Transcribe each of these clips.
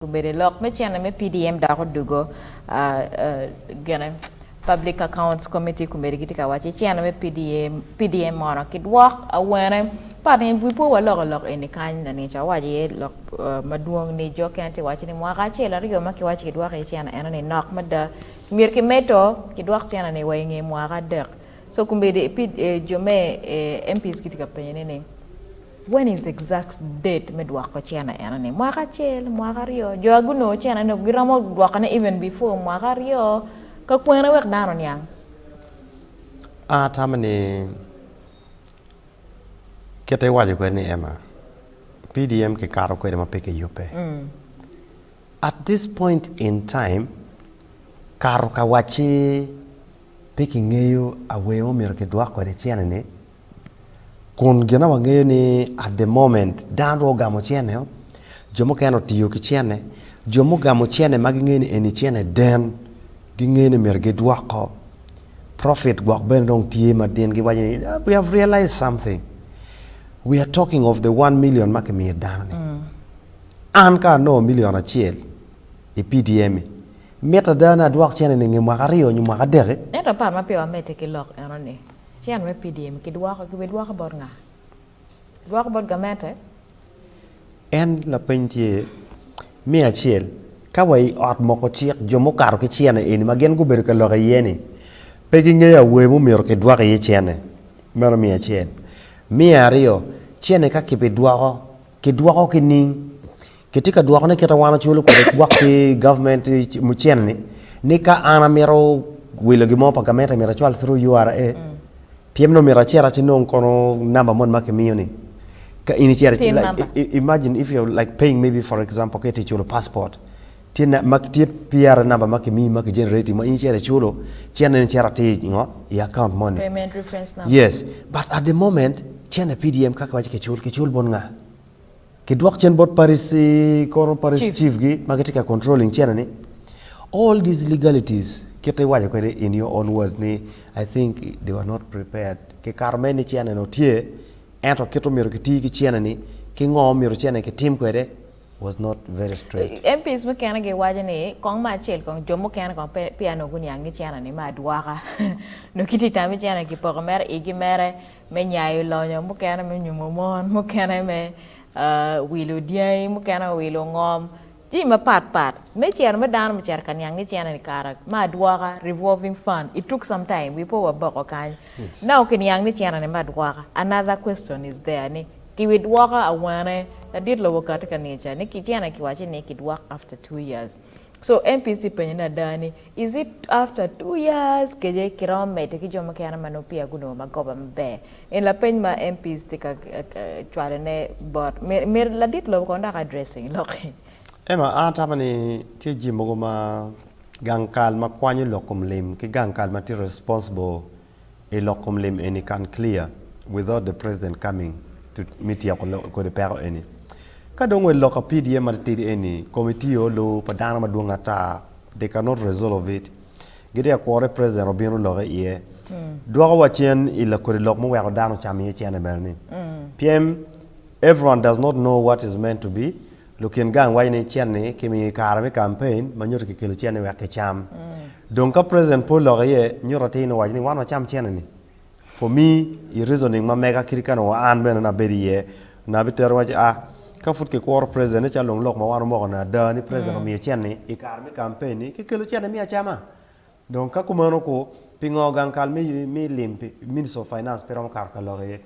Obedo lok me cene me PDM dok odugo gene Public Accounts Committee komedi gitye ka waco cene me PDM, PDM mono kidwok awene pat ni wi po waloko lok eni kany lanica owaco iye lok madwong ni jo kene tye waco ni mwaka acel aryo ma kiwaco kidwoko iye cene eno ni nok mada myero kimedo kidwok cene ni wa inge mwaka adek so komedi jo me MPs gitye ka penyo ni ni When is the exact date me dwoko cene eno ni? Mwaka acel, mwaka aryo, jo a gunongo cene ni giromo dwoko ne even before mwaka aryo ka kwene wek dano oniang. An atamo ni kite iwaco kwede ni Emma, PDM kikato kwede ma pe kiyubbe. At this point in time kato ka wacci pe kingeyo a way ma omyero kidwok kwede cene ni Kun gina wangeyo ni at the moment dano dong ogamo cene-o, jo mukene otiyo ki cene, jo mugamo cene ma gingeyo ni eni cene den gingeyo ni myero gidwoko, profit gwok bene dong tye ma gin giwaco ni we have realised something, we are talking of the one million ma kimiyo dano-ni, an ka anongo million acel i PDM-mi, mitte ada ni adwok cene-ni i nge mwaka aryo nyo mwaka adek-ki? Ento aparo ma peya wamedde ki lok enoni, Acen me PDM kidwoko ki bidwoko bot nga? Kidwoko bot gamente? En lapeny tye me acel, ka wa i ot moko cik jo mukato ki cene eni ma gin gubedo ka lok iye ni pe gingeyo awer mumyero kidwok iye cene, meno me acel. Me aryo, cene ka kibidwoko, kidwoko ki ning? Kitye ka dwokone kit ma wan waculo kwede gwok ki government mucen ni, ni ka an amito wilo gin mo pa gamente myero acwal through URA, pyem nongo myero acit aci nong kono number moni ma kimiyo ni, ka in icito Pin like number. i- i- imagine if you're like paying maybe for example ka itye culo passport tye na ma tye PRA number ma kimiyi ma ki generate ma in icito iculo cen en icito atir i ngo i account moni. Payment reference number. Yes, but at the moment cene PDM kaka waci kicul, kicul bot nga? Ki dwok cen bot Paris kono Paris chief gi ma gitye ka controlling China ni all these legalities kite iwaco kwede in your own words ni I think they were not prepared ki kato mere ni China ni otye ento kite omyero ki ti ki China ni ki ngo myero China ni ki tim kwede was not very straight. MPs mukene gi waco ni kong ma acel kong jo mukene kong pe peya nongo guniang ni China ni me adwoka nongo ki ti tami China ni ki poko mere igi mere me nyayo lonyo, mukene me nyumo mon, mukene me wilo dyangi, mukene wilo ngom, jami mapat pat. Me ciro me dano bicito ka niang ki cene ni kara me adwoka, revolving fund, it took some time we po waboko kany. Now ki niang ni cene ni me adwoka, another question is there ni ki wi dwoko awene? Ladit lobo kati ka nica ni ki cene ki waci ni ki dwok after two years. So MPC penyo ni ada ni is it after two years kece kiromo mede ki jo mukene ma nongo peya gunongo magoba maber? En lapeny ma MPs tye ka cwalo ne bot myero ladit lobo kono dok addressing lokki. Emma, An atamo ni tye jii mogo ma gang kal ma kwanyo lok kom lim ki gang kal ma tye responsible I lok kom lim eni kan clear without the president coming to me tyeko kodi peko eni. Ka dong wed lok apidie matitidi eni, committee o lu pa dano madwong ata they cannot resolve it. Gitye ka kwore president obino loke iye. Dwoko wa cen i la kodi lok muweko dano ocamo iye cene bene ni. Pyem everyone does not know what is meant to be. Lukin gang waco ni cen-ni kimiyo i kare me kampein ma nyuto kikelo cen-ni wek kicam. Dong ka President pe oloko iye, nyuto atir ni owaco ni wan wacam cen-ni. For me, i reasoning ma mega kadi ka nongo an bene nongo abedo iye, nongo abitero ni waco, ah, ka pud kikuro President ni calo dong lok ma wan wamoko ni ada ni President omiyo cen-ni i kare me kampein-ni, kikelo cen-ni me acama. Dong ka kumeno-ku, pingo gang kal me lim pi Ministry of Finance pe romo kato ka lok iye?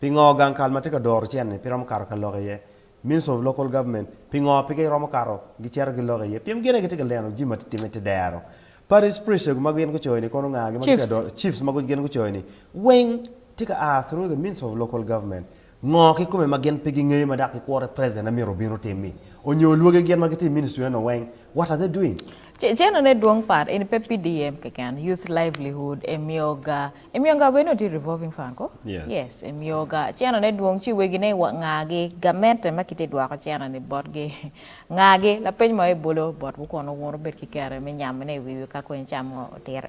Pingo gang kal ma tye ka doro cen-ni pe romo kato ka lok iye? Ministry of Local Government, pingo pe giromo kato gicito gilok iye? Pien gin aye gitye ka leno jami ma tye ka timme te dero. Parish priestego ma gin gucoyo-ni kono ngagi ma gitye ka Chiefs. doro, chiefs ma gin gucoyo-ni weng tye ka a through the Ministry of Local Government. Ngo kikome ma gin pe gingeyo ma dok gikworre President aye myero obin otim-mi? Onyo olwoge gin ma gitye i ministry eno weng, what are they doing? Ceno ne dwong part eni pe PDM keken, Youth Livelihood emiyo ga Imiyo gawene oti revolving fund ko? Yes. Emiyo ga cena ne dwong ci wegi ne wa nga gi gamente ma kite dwoko cena ni bot gi nga gi lapeny mo ebolo bot wu kono wun obed ki kare me nyamone iwiwi ka kony cam mo otiro.